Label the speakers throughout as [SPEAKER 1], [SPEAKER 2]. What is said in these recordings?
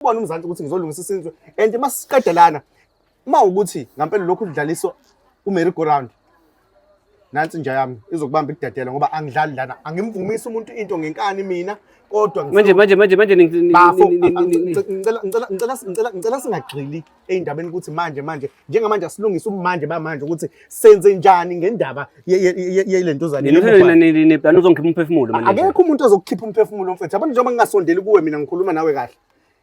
[SPEAKER 1] kubona umzansi ukuthi ngizolungisa isizwe and uma siqedelana uma ukuthi ngampela lokhu kudlaliswa uMary go round nansi nja yami izokubamba ikudedela ngoba angidlali lana angimvumisi umuntu into ngenkani mina kodwa manje manje manje manje ngicela ngicela ngicela ngicela ngicela singagxili ey'ndabeni ukuthi manje manje njengamanje asilungise umanje bamanje ukuthi senze njani ngendaba yele ntuzane nani
[SPEAKER 2] uzongikhipha umphefumulo manje akekho umuntu ozokukhipha
[SPEAKER 1] umphefumulo mfethu abantu njengoba ngingasondeli kuwe mina ngikhuluma nawe kahle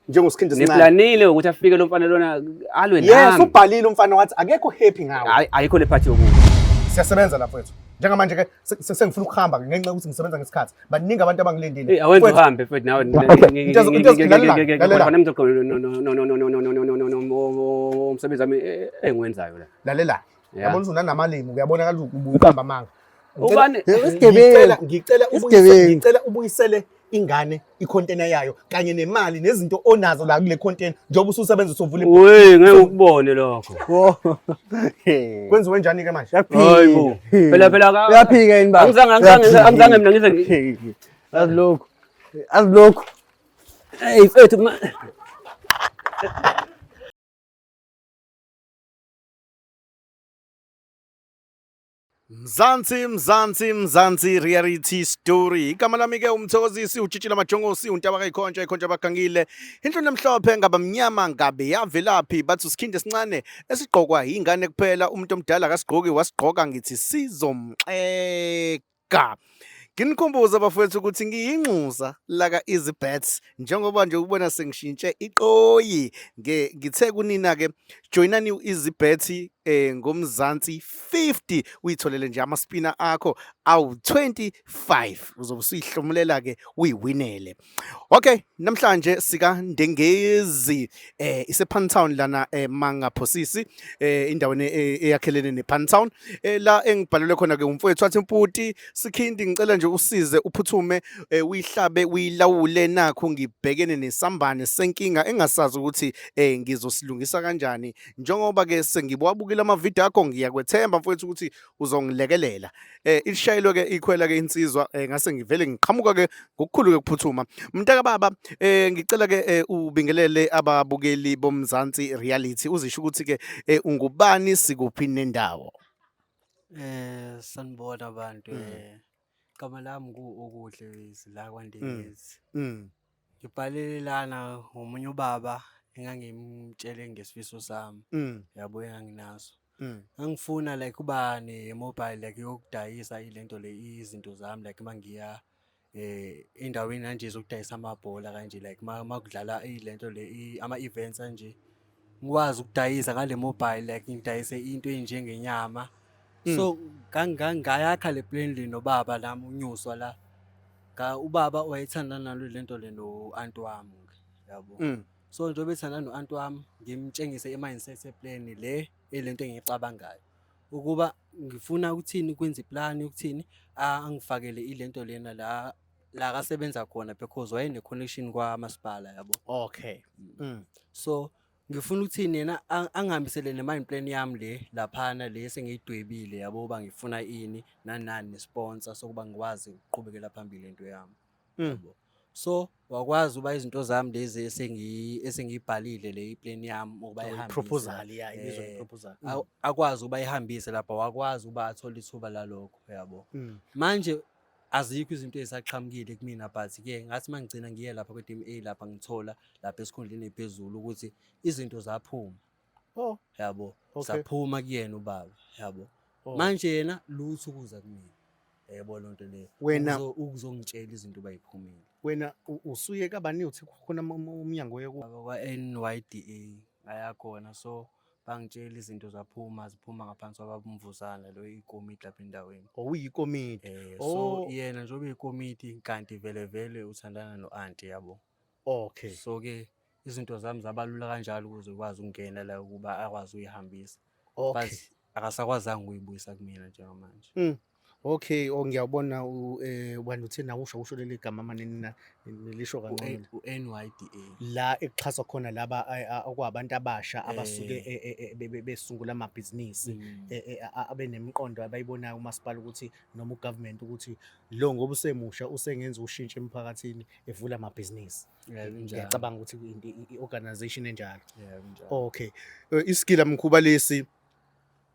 [SPEAKER 1] njengosikhindi sincane niplanile ukuthi afike lo
[SPEAKER 2] mfana lona alwe nami yes ubhalile umfana
[SPEAKER 1] wathi akekho happy ngawe ayikho le party yokuba
[SPEAKER 2] siyasebenza lapho
[SPEAKER 1] wethu njengamanje ke sengifuna ukuhamba ngenxa yokuthi ngisebenza ngesikhathi baningi abantu abangilindile hey awenza uhambe mfethu nawe
[SPEAKER 2] umsebenzi wami engiwenzayo la lalela
[SPEAKER 1] yabona ukuthi unanamalimi uyabona kaloku ubuqamba amanga ubani
[SPEAKER 2] ngicela
[SPEAKER 1] ngicela ubuyisele ingane ikhontena yayo kanye nemali nezinto onazo la kule khontena njengoba ususebenza usuvula ibhuku. Wey ngeke ukubone
[SPEAKER 2] lokho. Wo. Hey.
[SPEAKER 1] Kwenziwe njani ke manje? Hayi bo.
[SPEAKER 2] Phela phela ka. Uyaphika yini baba?
[SPEAKER 3] Angizange angizange angizange mina ngize
[SPEAKER 2] ngi- Hey. Azi lokhu. Azi
[SPEAKER 3] lokhu. Hey
[SPEAKER 2] mfethu ma-
[SPEAKER 1] Mzansi Mzansi Mzansi reality story igama lami ke umthokozisi ujitshile amajongosi untaba kayikhontsha ikhontsha abagangile inhloni emhlophe ngaba mnyama ngabe yavelaphi bathi usikhindi esincane esigqokwa yingane kuphela umuntu omdala akasigqoki wasigqoka ngithi sizomxeka Nginikhumbuza bafowethu ukuthi ngiyinxusa laka Easy Bets njengoba nje ukubona sengishintshe iqoyi nge ngithe kunina ke joinani u-Easy Bet eh ngomzansi 50 uyitholele nje ama spinner akho awu 25 uzobe usihlomulela ke uyiwinele Okay, namhlanje sika Ndengezi eh ise Pantown lana eh Manga Phosisi eh indaweni eh, eyakhelene ne Pantown eh la engibhalelwe khona ke umfowethu athi mputi sikhindi ngicela nje usize uphuthume eh, uyihlabe uyilawule nakho ngibhekene nesambane senkinga engasazi ukuthi eh ngizosilungisa kanjani njengoba ke sengibwabukile ama video akho ngiyakwethemba mfowethu ukuthi uzongilekelela eh ilishayelwe ke ikhwela ke insizwa eh, ngase ngivele ngiqhamuka ke ngokukhulu ke kuphuthuma mntaka baba eh ngicela ke eh, ubingelele ababukeli bomzansi reality uzisho ukuthi ke eh, ungubani sikuphi nendawo eh
[SPEAKER 3] sanibona abantu mm. eh Igama lami ngu-Okuhle Wezi la kwaNdengezi. Mm. Ngibhalele lana ngomunye ubaba engangimtshele ngesifiso sami. Mm. Yabo enganginaso. Mm. Ngangifuna like uba ne-mobile like yokudayisa ilento le izinto zami like uma ngiya eh endaweni kanje zokudayisa amabhola kanje like uma uma kudlala ilento le i- ama-events anje ngikwazi ukudayisa ngale mobile like ngidayise into enjengenyama so ngayakha le plan le nobaba nami unyuswa la Nga- ubaba wayethanda nalo lento le no-anti wami ke yabo Mm. so njengoba ethanda no-anti wami ngimtshengise i-mindset ye-plan le elento engiyicabangayo ukuba ngifuna ukuthini kwenza iplani ukuthini angifakele ilento lena la la akasebenza khona because wayene connection kwa masipala yabo okay mm.
[SPEAKER 1] so
[SPEAKER 3] ngifuna ukuthini yena ang- angihambisele ne mind plan yami le laphana le sengiyidwebile yabo uba ngifuna ini nanani nesponsor sokuba ngikwazi ukuqhubekela phambili into yami Mm. yabo so wakwazi uba izinto zami lezi esengi esengiyibhalile le iplan yami ukuba ihambise proposal ya ibizwa
[SPEAKER 1] Eh, proposal aw- akwazi uba
[SPEAKER 3] ihambise lapha wakwazi uba athole ithuba lalokho yabo manje azikho izinto ezisaqhamukile kumina but ke ngathi mangigcina ngiye lapha kwe-DMA lapha ngithola lapha esikhundleni ephezulu ukuthi izinto zaphuma oh yabo okay. saphuma kuyena ubaba yabo oh. manje yena lutho ukuza kumina yebo lonto leyo wena ukuzongitshela
[SPEAKER 1] izinto
[SPEAKER 3] bayiphumile wena
[SPEAKER 1] usuye kabani uthi khona umnyango yoku kwa
[SPEAKER 3] NYDA ayakhona so bangitshela izinto zaphuma ziphuma ngaphansi kwababumvuzana lo ikomiti lapha endaweni oh, uyikomiti eh,
[SPEAKER 1] oh. so yena
[SPEAKER 3] njengoba uyikomiti kanti vele vele uthandana no-anti yabo okay so
[SPEAKER 1] ke
[SPEAKER 3] izinto zami zabalula kanjalo ukuze ukwazi ukungena la ukuba akwazi uyihambisa okay. but akasakwazanga ukuyibuyisa kumina njengamanje mm.
[SPEAKER 1] Okay, oh ngiyabona u eh ubani uthini na usho usho leli gama manini na nilisho kancane. u-NYDA
[SPEAKER 3] La ekuxhaswa
[SPEAKER 1] khona laba a- a- okwabantu abasha abasuke Eh. e- e- e- be- be- besungula amabhizinisi Mm. e- e- a- abenemiqondo abayibonayo umasipala ukuthi noma ugovernment ukuthi lo ngoba usemusha usengenza ushintsho emphakathini evula amabhizinisi. Yeah, kunjalo. Ngiyacabanga ukuthi i- i- i-organization enjalo. Yeah, kunjalo. Okay. Eh, Isigila mkhuba lesi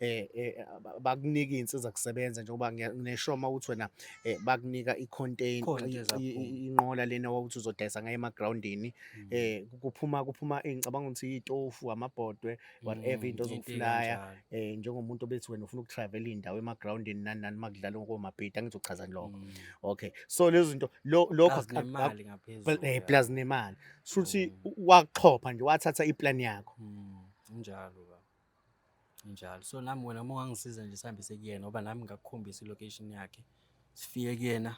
[SPEAKER 1] eh, eh bakunika insiza kusebenza njengoba ngisho uma uthi wena eh, bakunika icontainer inqola lena wawuthi uzodayisa ngayo emagroundini mm. eh kuphuma kuphuma ngicabanga ukuthi itofu amabhodwe whatever into mm, ozokuflaya eh njengomuntu obethi wena ufuna ukutravel indawo emagroundini nani nani makudlala ngokomabhida ngizochaza lokho mm. okay so lezo zinto lokho nemali ngaphezulu eh plus nemali shuthi waxhopha nje wathatha iplan yakho njalo
[SPEAKER 3] Njalo. So nami wena uma ungangisiza nje sihambise kuyena ngoba nami ngakukhombisa i-location yakhe. Sifike kuyena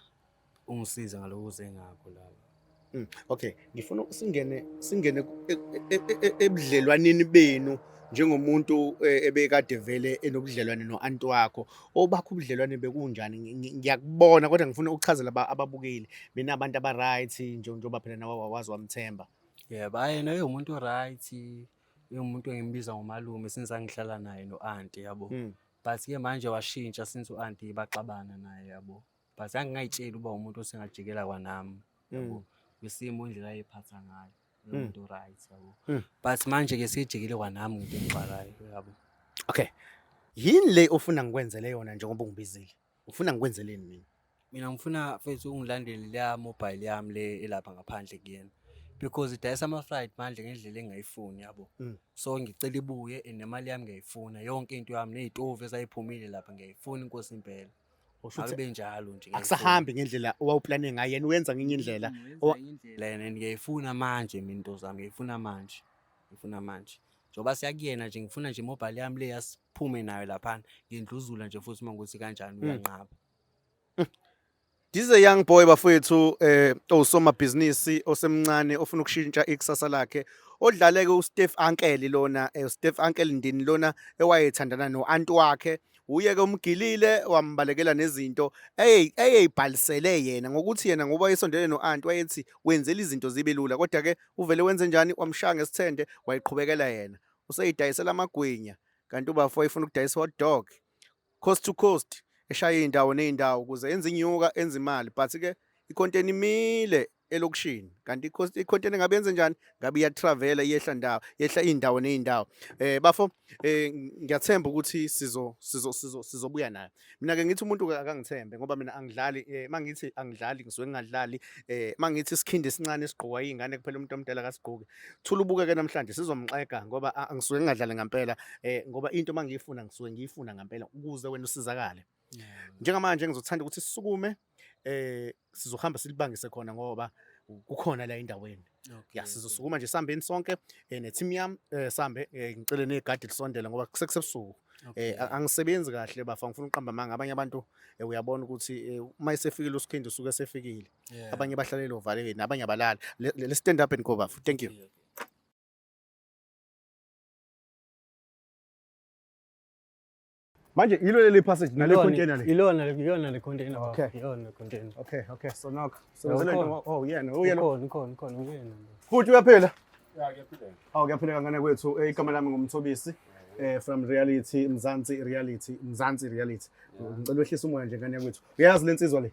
[SPEAKER 3] ungisize ngaloko uze ngakho laba. Mm, okay, ngifuna
[SPEAKER 1] singene singene e, e, e, ebudlelwaneni benu njengomuntu eh, ebekade vele enobudlelwane no-anti wakho obakho ubudlelwane bekunjani ngiyakubona kodwa ngifuna ukuchazela ababukeli mina abantu aba-right njengoba phela nawe wazi wamthemba yebo hhayi naye
[SPEAKER 3] umuntu o-right Umuntu engimbiza ngomalume since angihlala naye no-anti yabo. Mm. But ke manje washintsha since u-anti baxabana naye yabo. But angingayitsheli uba umuntu osengajikela kwanami yabo. Mm. Kwisimo indlela ayephatha ngayo. Mm. Umuntu right yabo. Mm. But manje ke sejikile kwanami ngento engixakayo yabo. Okay.
[SPEAKER 1] Yini le ofuna ngikwenzele yona njengoba ungibizile? Ufuna ngikwenzeleni mina? Mina ngifuna
[SPEAKER 3] mfethu ungilandele leya mobile yami le elapha ngaphandle kuyena. Because idayisa ama fried manje ngendlela engayifuni yabo. Mm. So ngicela ibuye and nemali yami ngiyayifuna. Yonke into yami nezitovu ezayiphumile lapha ngiyayifuna inkosi impela. Usho ukuthi Akube njalo nje. akusahambi ngendlela
[SPEAKER 1] owawuplane ngayo yena uyenza ngenye indlela. Owa- indlela yena and
[SPEAKER 3] ngiyayifuna manje mina into zami ngiyayifuna manje. Ngiyifuna manje. Njengoba siyakuyena nje ngifuna nje mobile yami le yas- phume nayo laphana ngindluzula nje futhi uma ukuthi kanjani uyanqaba This
[SPEAKER 1] is a young boy bafowethu eh osomabhizinisi osemncane ofuna ukushintsha ikusasa lakhe odlaleke uSteve Ankeli lona eh, uSteve Ankeli ndini lona ewayethandana noanti wakhe uye ke umgilile wambalekela nezinto eye eyibhalisele yena ngokuthi yena ngoba esondele noanti wayethi wenzela izinto zibe lula kodwa ke uvele wenze njani wamshaya ngesithende wayiqhubekela yena useyidayisela amagwinya kanti ubafo ifuna ukudayisa hot dog coast to coast eshaya iy'ndawo ney'ndawo ukuze enze inyuka enze imali but ke ikhonteni imile elokishini kanti ikhonteni ngabe yenze njani ngabe iyatravela iyehla ndawo yehla iy'ndawo ney'ndawo um bafo um ngiyathemba ukuthi sizobuya nayo mina ke ngithi umuntu akangithembe ngoba mina angidlali eh, mangithi angidlali ngisuke ngingadlali eh, mangithi isikhindi esincane esigqokwa izingane kuphela umuntu omdala akasigqoki thula ubukeke namhlanje sizomxega ngoba ah, ngisuke ngingadlali ngempela eh, ngoba into mangiyifuna ngisuke ngiyifuna ngempela ukuze wena usizakale njengamanje ngizothanda ukuthi sisukume eh sizohamba silibangise khona ngoba kukhona la endaweni ya sizosukuma nje sihambeni sonke eh, ne-team yami eh, sihambe eh, ngicele negadi lisondele ngoba sekusebusuku eh angisebenzi kahle bafa ngifuna uqamba amanga abanye abantu eh, uyabona ukuthi eh, uma esefikile usikhindi usuke esefikile abanye bahlalela ovalekeni abanye abalala le stand up and go bafu thank you Manje yilo leli passage nale container le. Ilona iyona le container. Okay. Iyona container.
[SPEAKER 3] Okay, okay. So knock. So no, no, oh
[SPEAKER 1] yeah, no. Uyena. Khona,
[SPEAKER 3] khona, khona uyena. Futhi uyaphila?
[SPEAKER 1] Yeah, ngiyaphila.
[SPEAKER 3] Awu ngiyaphila ngane kwethu.
[SPEAKER 1] Eh, igama lami ngumthobisi. Eh from reality Mzansi reality Mzansi reality. Ngicela wehlisa umoya nje ngane kwethu. Uyazi lensizwa le?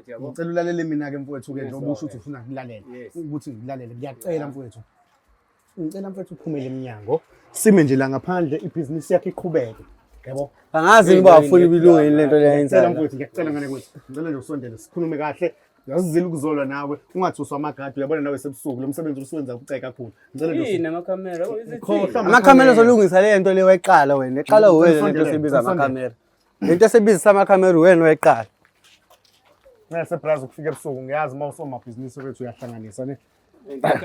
[SPEAKER 2] ngicela ulalele mina-ke
[SPEAKER 1] mfowethu-ke njengoba usho ukuthi ufuna kulalela ukuthi ngikulalele ngiyacela mfowethu ngicela mfowethu uphumele emnyango sime nje la ngaphandle ibhizinisi yakhe iqhubeke yabo angazi uba
[SPEAKER 3] afuni ubilunga yini lento leyenzayo mfowethu ngiyacela ngane kwethu
[SPEAKER 1] ngicela nje usondele sikhulume kahle yazizile ukuzolwa nawe ungathuswa amagadi uyabona nawe sebusuku lo msebenzi usuwenza kuceka kakhulu ngicela nje yini amakhamera
[SPEAKER 2] amakhamera
[SPEAKER 1] uzolungisa
[SPEAKER 3] le nto le wayiqala wena eqala wena le nto sebiza amakhamera Lento esebizisa amakhamera wena weqala.
[SPEAKER 1] Ngase brazo kufika ebusuku ngiyazi uma usomabhizinisi wethu uyahlanganisa ne.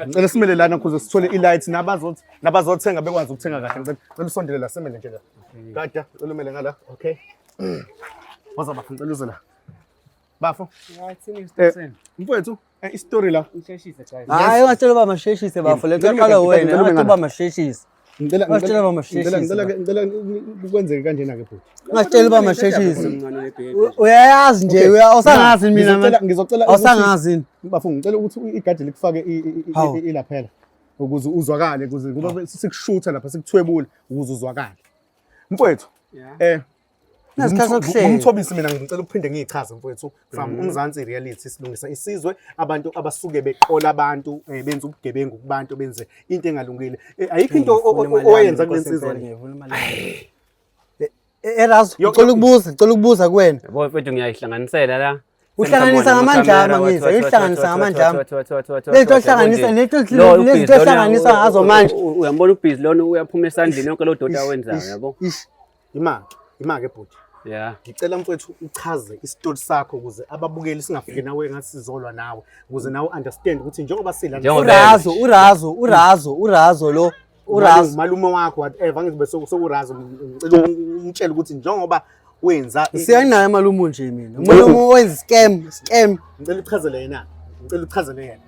[SPEAKER 1] Ngicela simele lana ukuze sithole i-light nabazothi nabazothenga bekwazi ukuthenga kahle. Ngicela ngicela usondele la simele nje la. Kade ngicela umele ngala. Okay. Waza bafuna ngicela uze la. Bafo. Ngathi ni Eh, station. mfowethu Eh, isitori la ngisheshise guys hayi
[SPEAKER 3] ungatshela uba masheshise bafo le nto yaqala wena ungathi uba masheshise ngicela Ungatshela uba masheshise. ngicela ngicela ke- ngicela
[SPEAKER 1] ku- kwenzeke kanjena ke bhuti ungatshela uba masheshise
[SPEAKER 3] Mncane webhebhe. U- uyayazi nje uya- usangazi mina Ngizocela- manje. ngizocela ukuthi- awusangazi
[SPEAKER 1] yini
[SPEAKER 3] bafo ngicela ukuthi
[SPEAKER 1] u- igadi likufake i- i- i- Hawu. i- ilaphela ukuze uzwakale ukuze ngoba sikushutha lapha sikuthwebule ukuze uzwakale mfowethu Yeah. eh umthobisi mina ngicela ukuphinde ngiyichaze mfowethu from mm-hmm. umzansi reality silungisa isizwe abantu abasuke beqola abantu eh, benza ubugebengu kubantu benze into engalungile eh, ayikho into owayenza kule nsizwa
[SPEAKER 3] erazo eh, ngicela ukubuza ngicela ukubuza kuwena yabo mfethu ngiyayihlanganisela
[SPEAKER 2] la uhlanganisa
[SPEAKER 3] ngamandlama ngizwa uyihlanganisa ngamandlama lento ohlanganisa lento lento ohlanganisa ngazo manje uyambona ubhizi lona
[SPEAKER 2] uyaphuma esandleni yonke lo dota awenzayo yabo Imake,
[SPEAKER 1] imake bhuti. Yeah. Ngicela
[SPEAKER 2] mfowethu
[SPEAKER 1] uchaze isitori sakho ukuze ababukeli singafiki nawe ngathi sizolwa nawe ukuze nawe understand ukuthi njengoba sila Njengoba- Urazo, urazo, urazo, urazo lo. Urazo. malume wakho whatever ngizobe soku- sokurazo ngicela umtshele ukuthi njengoba wenza i- Siyanaye malume
[SPEAKER 3] nje mina. Umuntu omu- owenza scam, scam. ngicela uchazele
[SPEAKER 1] yena ngicela uchazele yena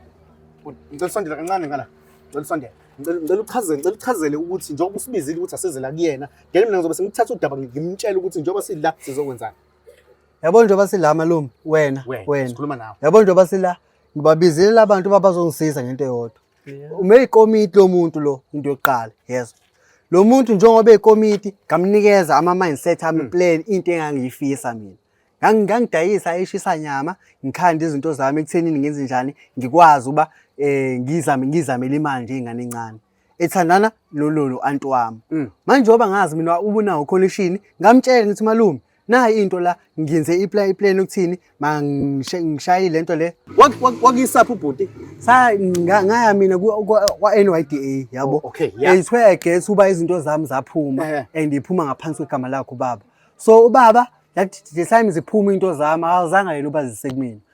[SPEAKER 1] Bhuti, ngicela usondele kancane ngala ngicela usondele ngicela ngicela uchazele ngicela uchazele ukuthi njengoba usibizile ukuthi asizela kuyena ngeke mina ngizobe sengithatha udaba ngimtshela ukuthi njengoba sidla sizokwenzani yabo
[SPEAKER 3] njengoba sidla malume wena wena sikhuluma nawe yabo
[SPEAKER 1] njengoba sidla
[SPEAKER 3] ngibabizile abantu uba bazongisiza ngento eyodwa uma eyikomiti lo muntu lo into yokuqala yezwa lo muntu njengoba eyikomiti ngamnikeza ama-mindset ami hmm. plan into engangiyifisa mina ngangidayisa eshisa nyama ngikhanda izinto zami ekuthenini ngenze njani ngikwazi uba um ngizamele imali njengengane encane ethandana lololo anti wami mm. manje oba ngazi mina ubunawo khona ishini ngamtshela ngithi malume nayi into la ngenze iplan iplan ukuthini mangishaye lento le wakisaphi
[SPEAKER 1] ubhuti sa ngaya
[SPEAKER 3] mina kwa NYDA yabo oh, okay yeah ayithwe guess uba izinto zami zaphuma eh. and iphuma ngaphansi kwegama lakho baba so ubaba yathi the time ziphuma into zami awuzanga yena uba zisekumina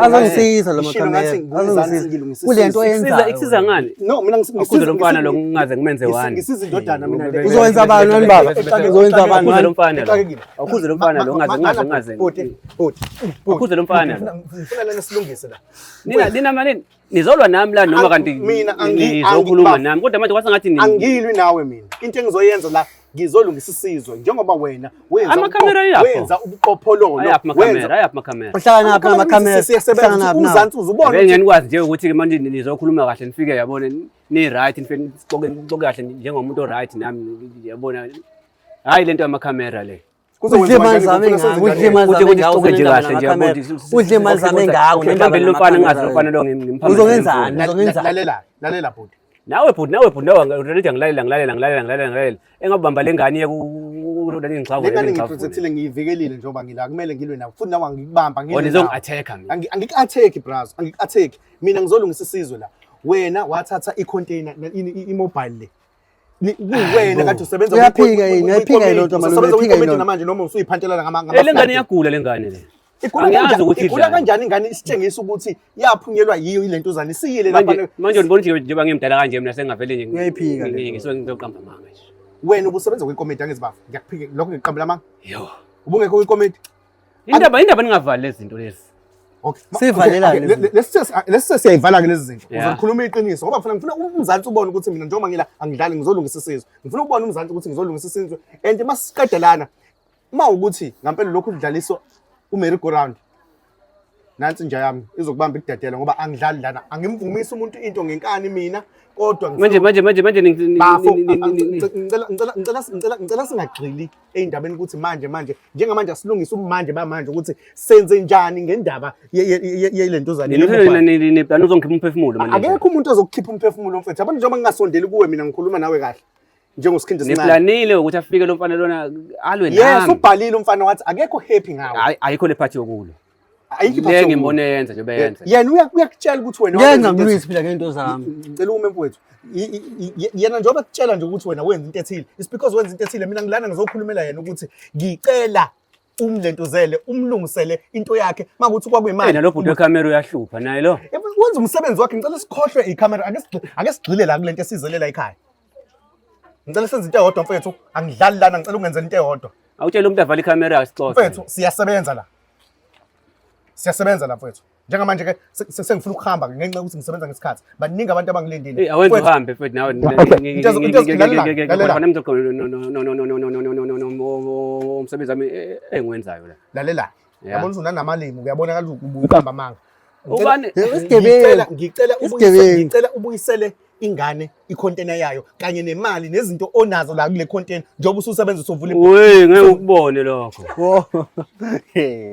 [SPEAKER 1] azongisiza lo
[SPEAKER 3] makamerakulento oyenzaikusiza ngani
[SPEAKER 2] akuze lo
[SPEAKER 1] mfana lo ngingaze
[SPEAKER 2] ngimenze wani
[SPEAKER 1] uzowenza abantu wani baba
[SPEAKER 3] uzowenza abantu wani mfana lo
[SPEAKER 2] akuze lo mfana lo ngaze ngaze ngaze akuze lo mfana lo
[SPEAKER 1] nina nina
[SPEAKER 2] malini Nizolwa nami la noma kanti mina angizokhuluma
[SPEAKER 1] nami
[SPEAKER 2] kodwa manje kwasengathi nini? Angilwi nawe mina.
[SPEAKER 1] Into engizoyenza la ngizolungisa isizwe njengoba wena wenza amakhamera yakho wenza ubuqophololo ayaphi amakhamera ayaphi
[SPEAKER 2] amakhamera uhlala naphi amakhamera
[SPEAKER 3] siyasebenza naphi umzansi
[SPEAKER 1] uzubona ngeke ngenikwazi nje ukuthi ke
[SPEAKER 2] manje nizokhuluma kahle nifike yabona ni right nifike nixoke nixoke kahle njengomuntu o right nami yabona hayi lento yamakhamera le udle imali zami
[SPEAKER 3] ngakho udle imali zami ngakho udle kahle nje yabona udle imali zami ngakho ngibambe lomfana
[SPEAKER 2] ngazi lomfana lo ngimphambili uzongenzani uzongenzani
[SPEAKER 3] lalela lalela
[SPEAKER 1] bhuti nawe bhuti nawe bhuti
[SPEAKER 2] nawe ngirelida ngilalela ngilalela ngilalela ngilalela ngilalela engabamba le ngane ye kulolani ngixhavu le ngane ngiprotectile
[SPEAKER 1] ngiyivikelile njengoba ngila kumele ngilwe nawe futhi nawe angikubamba ngilwe wena izongi-attack mina
[SPEAKER 2] angik-attack braz
[SPEAKER 1] angik-attack mina ngizolungisa isizwe la wena wathatha i-container i-mobile le kuwena kade usebenza uyaphika yini ayiphika yini
[SPEAKER 3] lento manje uyaphika yini namanje noma usuyiphantelana
[SPEAKER 1] ngama ngama le ngane iyagula le
[SPEAKER 2] ngane le igula kanjani
[SPEAKER 1] ingane isitshengisa ukuthi yaphunyelwa yiyo ile ntuzane isiyile lapha manje ngibona ukuthi njengoba
[SPEAKER 2] ngimdala kanje mina sengavele nje ngiyayiphika ngisuke
[SPEAKER 3] ngizoqamba
[SPEAKER 2] amanga nje wena ubusebenza kwikomiti
[SPEAKER 1] angizibafu ngiyakuphika lokho ngiqambela amanga yo ubungekho kwikomiti Indaba indaba
[SPEAKER 2] ningavali lezi zinto lezi. Okay.
[SPEAKER 1] Sivalelane.
[SPEAKER 3] Lesi
[SPEAKER 1] siyayivala ke lezi zinto. Uzokhuluma iqiniso ngoba ngifuna ngifuna umzansi ubone ukuthi mina njengoba ngila angidlali ngizolungisa isizwe. Ngifuna ukubona umzansi ukuthi ngizolungisa isizwe and masiqedelana uma ukuthi ngampela lokhu kudlaliswa uMary go round nansi nja yami izokubamba ikudedela ngoba angidlali lana angimvumisi umuntu into ngenkani mina kodwa manje manje manje manje
[SPEAKER 2] ngicela
[SPEAKER 1] ngicela ngicela ngicela ngicela singagxili ey'ndabeni ukuthi manje manje njengamanje asilungise umanje bamanje ukuthi senze njani ngendaba yele ntuzane nani
[SPEAKER 2] uzongikhipha umphefumulo manje akekho umuntu ozokukhipha
[SPEAKER 1] umphefumulo mfethu abantu njengoba ngingasondeli kuwe mina ngikhuluma nawe kahle njengosikhindi sincane niplanile ukuthi afike lo
[SPEAKER 2] mfana lona alwe nami yes ubhalile umfana wathi
[SPEAKER 1] akekho happy ngawe ayikho le phathi yokulo
[SPEAKER 2] ayikho iphutha ngeke
[SPEAKER 1] ngibone yenza
[SPEAKER 2] nje beyenza yena uyakutshela ukuthi
[SPEAKER 1] wena yenza ngilwisi phila ngento
[SPEAKER 3] zami ngicela ume mfowethu
[SPEAKER 1] yena njengoba kutshela nje ukuthi wena wenza into ethile it's because wenza into ethile mina ngilana ngizokhulumela yena ukuthi ngicela umlentuzele umlungisele into yakhe makuthi kwakuyimali nalo bhuti wekhamera
[SPEAKER 2] uyahlupha naye lo wenza umsebenzi wakhe
[SPEAKER 1] ngicela sikhohlwe ikhamera ake sigxile la kule nto esizelela ekhaya Ngicela senze into eyodwa mfethu, angidlali lana, ngicela ungenze into eyodwa. Awutshela umuntu avale ikhamera
[SPEAKER 2] isixoxo. Mfethu, siyasebenza la.
[SPEAKER 1] Siyasebenza la mfethu. Njengamanje ke sengifuna ukuhamba ngenxa yokuthi ngisebenza ngesikhathi. Baningi abantu abangilindile. Hey, awenze uhambe mfethu nawe.
[SPEAKER 2] Umsebenzi wami engiwenzayo la. Lalela. yabona
[SPEAKER 1] ukuthi unanamalimi kuyabonakala ukuthi uqamba amanga ubani
[SPEAKER 2] isigebengu ngicela isigebengu
[SPEAKER 1] ngicela ubuyisele ingane icontainer yayo kanye nemali nezinto onazo la kule container njengoba ususebenza usuvula ibuku hey ngeke ukubone
[SPEAKER 2] lokho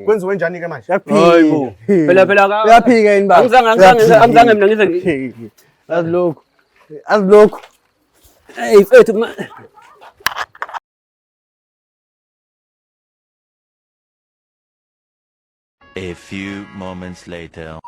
[SPEAKER 1] kwenziwe njani ke manje hayibo phela
[SPEAKER 2] phela ka uyaphika yini baba
[SPEAKER 3] angizange angizange angizange mina ngize
[SPEAKER 2] azilokho
[SPEAKER 3] azilokho hey
[SPEAKER 2] mfethu
[SPEAKER 4] A few moments later.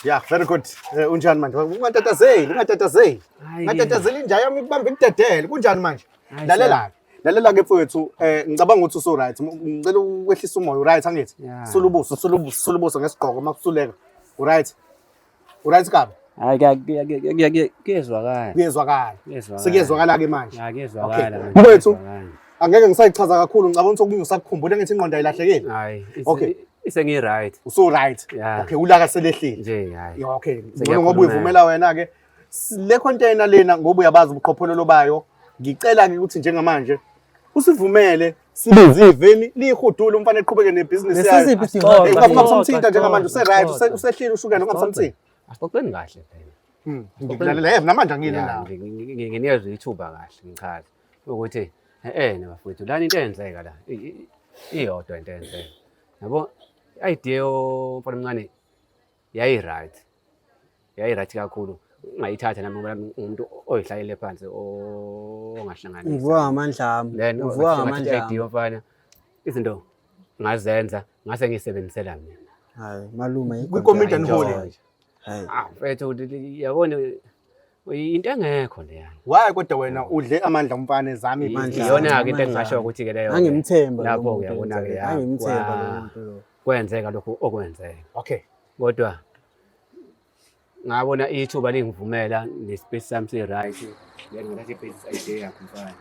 [SPEAKER 1] Yeah, very good. Eh, unjani manje? Ungatatazeli, ungatatazeli. Hayi. Ungatatazeli inja yami ikubamba ikudedele. Kunjani manje? Hayi, Lalela-ke. Lalela-ke mfowethu, eh ngicabanga ukuthi usu-right. M- Ngicela ukwehlisa umoya, u-right angithi? Yeah. Sulubuso, sulubuso, sulubuso ngesigqoko uma kusuleka. U-right? Uright kabi? Hayi
[SPEAKER 2] kuyezwakala. Kuyezwakala.
[SPEAKER 1] Sekuyezwakala ke manje. Hayi kuyezwakala. Mfowethu angeke ngisayichaza kakhulu ngicabanga ukuthi okunye usakukhumbula ngithi ingqondo ayilahlekeli. Hayi. Okay.
[SPEAKER 2] Isengi
[SPEAKER 1] right.
[SPEAKER 2] Uso right.
[SPEAKER 1] Okay ulaka
[SPEAKER 2] selehlile.
[SPEAKER 1] Nje
[SPEAKER 2] hayi. Okay. Ngoba
[SPEAKER 1] uyivumela wena ke. Le container lena ngoba uyabazi ubuqhophololo bayo. Ngicela ke ukuthi njengamanje usivumele sibize iveni liyihudule umfana eqhubeke nebhizinisi Lesi yayo siphi isidingo? Xoxa, Ngoba ungabe usamthinta xoxa, njengamanje xoxa, useright xoxa. use- usehlile ushukela ungabe usamthinta Asixoxeni kahle
[SPEAKER 2] phela. Hmm, ngikulalela yebo namanje
[SPEAKER 1] angiyile Ya, nawe ngi- ngi- ngi-
[SPEAKER 2] Nginezwe
[SPEAKER 1] ithuba
[SPEAKER 2] kahle ngichaza ukuthi eh na bafowethu lana into eyenzeka la i- i- iyodwa into eyenzeka. Yabo idea yomfana omncane Yayi-right. Yayi-right kakhulu. Ungayithatha nami ngoba umuntu oyihlalele phansi ongahlanganisa. Ngivuka ngamandla
[SPEAKER 3] ami. Then ngivuka ngamandla ami.
[SPEAKER 2] Idea mfana. Izinto ngazenza ngase ngisebenzisela mina. Hayi malume
[SPEAKER 3] ikomidi anihole.
[SPEAKER 1] Hayi. Ah,
[SPEAKER 3] mfethu
[SPEAKER 2] yabona into engekho leyana waye kodwa wena
[SPEAKER 1] udle amandla umfana ezami Amandla. iyona-ke into engingasho
[SPEAKER 2] ukuthi ke leyo angimthemba lapho lo muntu
[SPEAKER 3] uyabona ke enze-
[SPEAKER 2] ya, angimthemba lo wa-
[SPEAKER 3] muntu lo kwenzeka lokhu
[SPEAKER 2] okwenzeka okay kodwa ngabona ithuba lingivumela nespace sami si-right ngengathatha i-business idea yakho mfana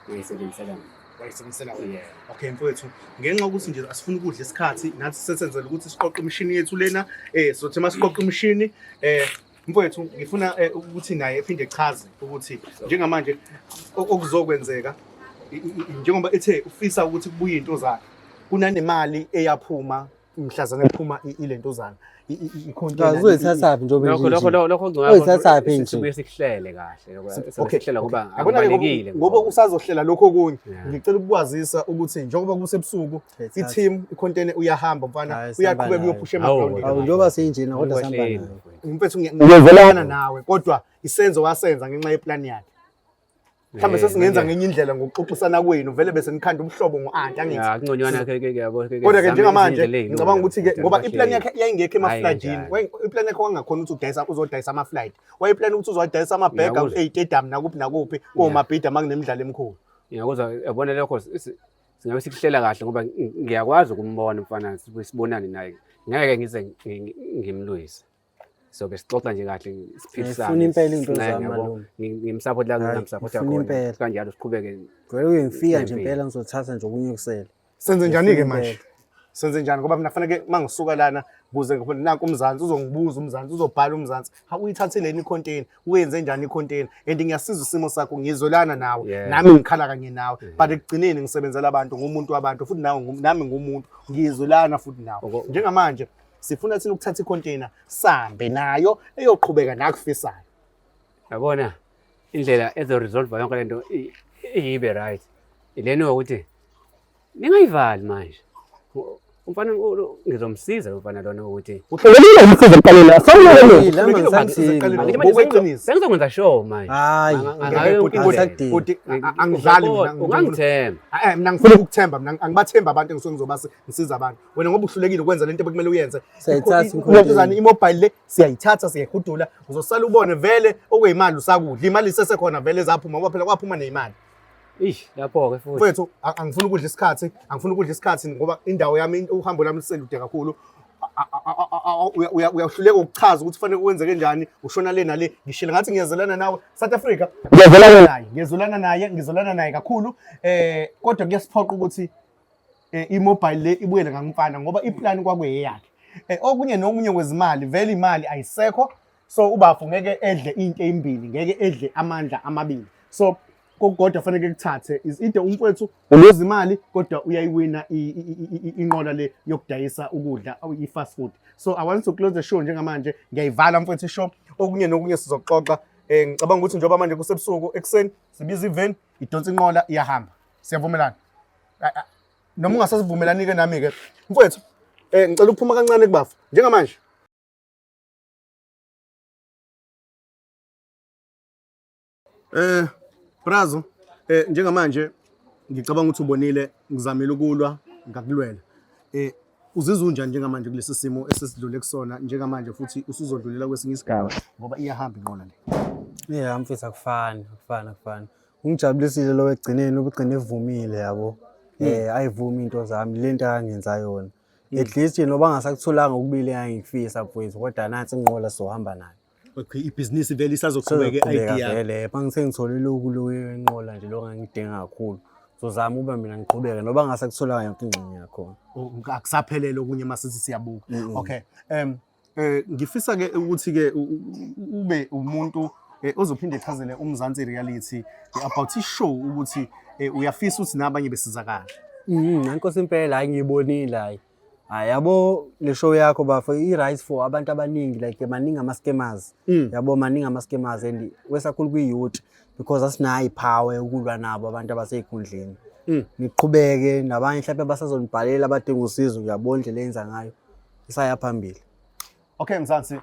[SPEAKER 2] uyisebenzisela mina wayisebenzisela wena Yeah.
[SPEAKER 1] okay
[SPEAKER 2] mfowethu
[SPEAKER 1] ngenxa yokuthi nje asifuni ukudla isikhathi nathi sesenzela ukuthi siqoqe imishini yethu lena eh sothi uma siqoqe imishini eh mfowethu ngifuna eh, ukuthi naye ephinde echaze ukuthi njengamanje o- okuzokwenzeka i- i- i- njengoba ethe ufisa ukuthi kubuye intozana kunanemali eyaphuma mhlazana ephuma i- ile ntozana I- i- i- icontainer, i- i- uzoyithathaphi njengoba
[SPEAKER 3] lokho lokho lokho lokho
[SPEAKER 2] Oyithathaphi nje.
[SPEAKER 3] sibuye sikuhlele kahle
[SPEAKER 2] lokho Okay, sibuye sikuhlela okay. kuba
[SPEAKER 1] Yabona-ke ngoba-
[SPEAKER 2] akubalekile ngoba
[SPEAKER 1] usazohlela lokho okunye Yeah. ngicela ukukwazisa ukuthi njengoba kusebusuku i-team ikhontene uyahamba mfana uyaqhubeka uyophusha
[SPEAKER 3] emagrawundini awu njengoba
[SPEAKER 2] seyinjena
[SPEAKER 1] kodwa
[SPEAKER 3] sihamba naye mfethu
[SPEAKER 1] ngiyavelana nawe kodwa isenzo wasenza ngenxa yeplani yakhe mhlawumbe eh, sesingenza ngenye indlela ngokuxoxisana kwenu vele bese nikhanda ubuhlobo ngo-anti angithi-kodwa
[SPEAKER 2] ke njengamanje
[SPEAKER 1] ngicabanga ukuthi-ke ngoba iplani yakhe yayingekho emaflajini iplani yakhe wangakhona ukuthi udayisa uzodayisa amaflaji wayeplani ukuthi uzowadayisa amabhega eyitedam nakuphi nakuphi komabhida uma kunemidlalo emikhulu ngiyakuzwa yabona
[SPEAKER 2] lokho singabe sikuhlela kahle ngoba ngiyakwazi ukumbona mfana sibonane naye ngeke ngize ngimlwise so ke sixoxa nje kahle siphilisane impela
[SPEAKER 3] into zamalume ngimsupport la
[SPEAKER 2] ngimsupport yakho kanjalo
[SPEAKER 3] siqhubeke
[SPEAKER 2] vele uyengifika
[SPEAKER 3] nje impela ngizothatha nje okunye kusele senze njani ke
[SPEAKER 1] manje
[SPEAKER 3] senze
[SPEAKER 1] njani ngoba mina faneke uma ngisuka lana kuze nanku umzansi uzongibuza umzansi uzobhala umzansi ha uyithatheleni icontainer uyenze njani icontainer and ngiyasiza isimo sakho ngizolana nawe nami ngikhala kanye
[SPEAKER 2] nawe
[SPEAKER 1] but ekugcineni ngisebenzela abantu ngumuntu wabantu futhi nawe nami ngumuntu
[SPEAKER 2] ngizolana
[SPEAKER 1] futhi nawe njengamanje sifuna thina ukuthatha icontainer sambe nayo eyoqhubeka nakufisayo yabona
[SPEAKER 2] indlela ezo resolve yonke lento iyibe right ilena ukuthi Ningayivali manje. Umfana ngizomsiza lo mfana lona ukuthi Uqalile umsiza
[SPEAKER 5] emqaleni. Sawulele. Ngokweqiniso.
[SPEAKER 2] sengizokwenza show manje. Hayi. Ngayo
[SPEAKER 5] Bhuti, yonke bhuti, into. bhuti, a- a-
[SPEAKER 1] angidlali mina, Uyakubo- Ungangithemba.
[SPEAKER 2] Eh, eh, mina ngifuna
[SPEAKER 1] ukuthemba mina angibathembi abantu engisuke ngizobasi ngisiza abantu wena ngoba uhlulekile ukwenza lento bekumele uyenze Siyayithatha Ikho- inkontileka. inkontileka,
[SPEAKER 5] imobile le
[SPEAKER 1] siyayithatha siyayihudula uzosala ubone vele okuyimali usakudla imali isesekhona vele zaphuma ngoba phela kwaphuma neyimali Ish lapho
[SPEAKER 2] ke futhi. Mfethu angifuni ukudla
[SPEAKER 1] isikhathi, angifuni ukudla isikhathi ngoba indawo yami uhambo lami liselude kakhulu. Uyahluleka ukuchaza ukuthi fanele kwenzeke njani, ushona le nale. Ngishilo ngathi ngiyazelana nawe South Africa. Ngiyazelana naye, ngiyazolana naye, ngizolana naye kakhulu. Eh kodwa kuyasiphoqa ukuthi eh, i-mobile le ibuyele ngamfana ngoba iplan kwakuyeyakhe. Eh, okunye nokunye kwezimali vele imali ayisekho so ubafo ngeke edle into eyimbili ngeke edle amandla amabili so kokukodwa fanele kuthathe is ide umfowethu uluza imali kodwa uyayiwina inqola le yokudayisa ukudla i-fast food so i want to close the show njengamanje ngiyayivala mfowethu ishow okunye nokunye sizoxoxa um ngicabanga ukuthi njengoba manje kusebusuku ekuseni sibiza iveni idonsa inqola iyahamba siyavumelana noma ungasasivumelani-ke nami-ke mfowethu um ngicela ukuphuma kancane kubafa njengamanje Eh Brazo eh njengamanje ngicabanga ukuthi ubonile ngizamile ukulwa ngakulwela. Eh uzizwa unjani njengamanje kulesi simo esesidlule kusona njengamanje futhi usuzodlulela kwesinye isigaba ngoba iyahamba inqola le. Yeah mfethu akufani
[SPEAKER 3] akufani akufani. Ungijabulisile lo ekugcineni ubugcine evumile yabo. Eh ayivumi into zami lento akangenza yona. at least you know bangasakutholanga ukubili engangikufisa mfowethu kodwa nathi inqola sohamba nayo okay ibhizinisi
[SPEAKER 1] vele isazoqhubeka i-idea vele bangithe ngithole
[SPEAKER 3] lokhu loyo enqola nje lokho ngangidinga kakhulu sozama uba mina ngiqhubeke noba ngasakutholanga yonke ingxenye yakhona oh, akusaphelele
[SPEAKER 1] okunye masithi siyabuka okay um Eh ngifisa ke ukuthi ke ube umuntu eh, ozophinde echazele uMzansi Reality eh, about ishow ukuthi eh, uyafisa ukuthi nabanye besizakala. Mhm, nankosi
[SPEAKER 3] impela hayi ngiyibonile hayi. Hayi yabo le show yakho bafo i right for abantu abaningi like maningi ama scammers. Mm. Yabo maningi ama scammers and wesakhulu kwi youth because asinayi power yokulwa nabo abantu abaseyikhundleni. Mm. Niqhubeke nabanye mhlawumbe abasazonibhalela abadinga usizo uyabona indlela enza ngayo. isaya phambili okay mzansi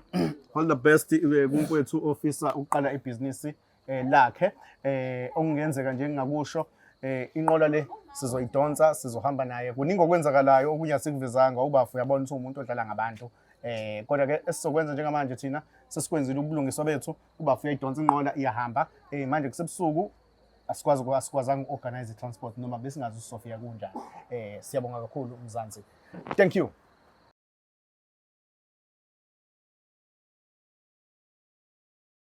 [SPEAKER 1] all the best eh, kumfwethu ofisa ukuqala ibhizinisi eh, lakhe eh okungenzeka nje ngingakusho eh inqola le sizoyidonsa sizohamba naye kuningi okwenzakalayo okunye asikuvezanga ubafu uyabona ukuthi umuntu odlala ngabantu eh kodwa ke esizokwenza njengamanje thina sesikwenzile ubulungiswa bethu ubafu uyayidonsa inqola iyahamba eh manje kusebusuku asikwazi asikwazanga uorganize transport noma besingazi uSofia kunjani eh siyabonga kakhulu umzansi thank you